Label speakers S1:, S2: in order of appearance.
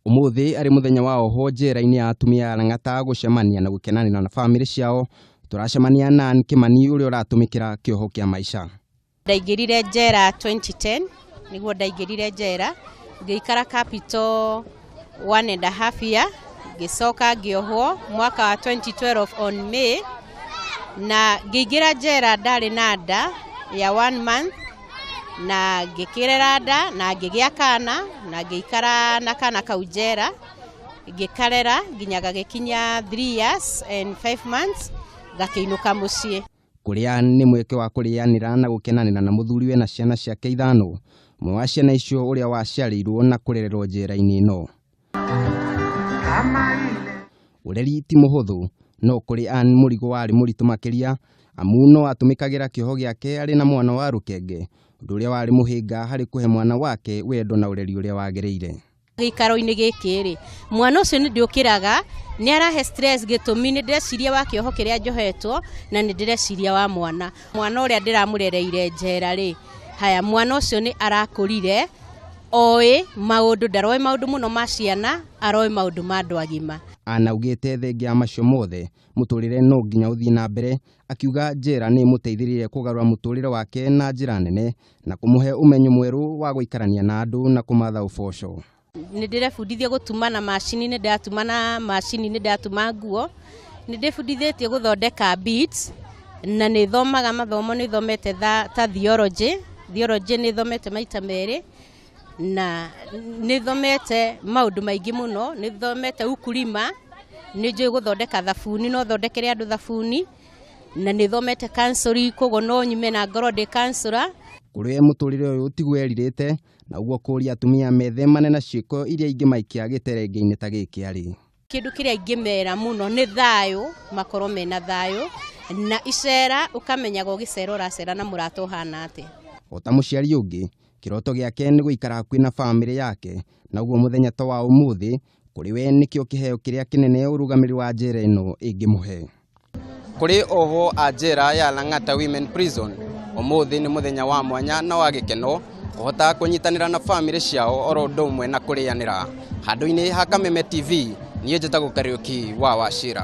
S1: Ũmũthĩ arĩ mũthenya wa oho njera-inĩ ya atumia ya Lang'ata gũcemania na gũkenanĩra na bamĩrĩ ciao, tũracemania na Ann Kĩmani ũrĩa ũratũmĩkĩra kĩoho kĩa maica. Ndaingĩrire njera 2010 nĩguo ndaingĩrire njera ngĩikara capital one and a half year ngĩcoka ngĩohwo mwaka wa 2012 on May na ngĩingĩra njera ndarĩ na nda ya one month na ngĩkĩrera nda na ngĩgĩa kana na ngĩikara na kana kau njera ngĩkarera nginya gagĩkinya 3 years and 5 months ngakĩinũka mũciĩ Kũrĩa nĩ mweke wa kũrĩanĩra na gũkenanĩra na mũthuriwe na ciana ciake ithano, ũmwe wa ciana icio ũrĩa waciarĩirwo na kũrererwo njera-inĩ ĩno. Ũreri ti mũhũthũ, no kũrĩ Ann mũrigo warĩ mũritũ makĩria amu no atũmĩkagĩra kĩoho gĩake arĩ na mwana wa rũkenge, ũndũ ũrĩa warĩ mũhĩnga harĩ kũhe mwana wake wendo na ũreri ũrĩa wagĩrĩire. gĩikaro-inĩ gĩkĩ rĩ mwana ũcio nĩ ndĩũkĩraga nĩ arahe stress gĩtũmi nĩ ndĩreciria wa kĩoho kĩrĩa njohetwo na nĩ ndĩreciria wa mwana mwana ũrĩa ndĩramũrereire njera rĩ haya mwana ũcio nĩ arakũrire oĩ maũndũ ndaroĩ maũndũ mũno ma ciana aroĩ maũndũ ma andũ agima. Anaugĩte thengia ya macio mothe mũtũrĩre no nginya ũthiĩ na mbere Akiuga njera nĩ ĩmũteithirie kũgarũra mũtũrĩre wake na njĩra nene na kũmũhe ũmenyo mwerũ wa gũikarania na andũ na kũmatha ũboco. Nĩ ndĩrebundithia gũtuma na macini, nĩ ndatuma na macini, nĩ ndatuma nguo, nĩ ndĩbundithĩtie gũthondeka beads, na nĩ thomaga mathomo, nĩ thomete ta theology, theology nĩ thomete maita merĩ, na nĩ thomete maũndũ maingĩ mũno, nĩ thomete ukulima, nĩ njũĩ gũthondeka thabuni, no thondekere andũ thabuni, na nĩ thomete counselling, koguo no nyume na ngorwo ndĩ counsellor. Kũrĩ we mũtũrĩre ũyũ tiguo erirĩte, naguo kũũria atumia methemane na ciĩko iria ingĩmaikia gĩterengeinĩ ta gĩkĩ arĩ. Kĩndũ kĩrĩa ingĩmera mũno nĩ thayũ, makorwo mena thayũ, na icera ũkamenyaga ũgĩcera ũracera na mũrata ũhana atĩa. O ta mũciari ũngĩ, kĩroto gĩake nĩ gũikara hakuhĩ na famĩlĩ yake, naguo mũthenya ta wa ũmũthĩ, kũrĩ we nĩkĩo kĩheo kĩrĩa kĩnene ũrũgamĩrĩri wa njera ĩno ĩngĩmũhe. Kũrĩ ohwo a njera ya Lang'ata Women Prison, ũmũthĩ nĩ mũthenya wa mwanya na wa gĩkeno kũhota kũnyitanĩra na bamĩrĩ ciao oro ũndũ ũmwe na kũrĩanĩra. Handũ-inĩ ha Kameme TV, niĩ njĩtagwo Kariũki wa Wachira.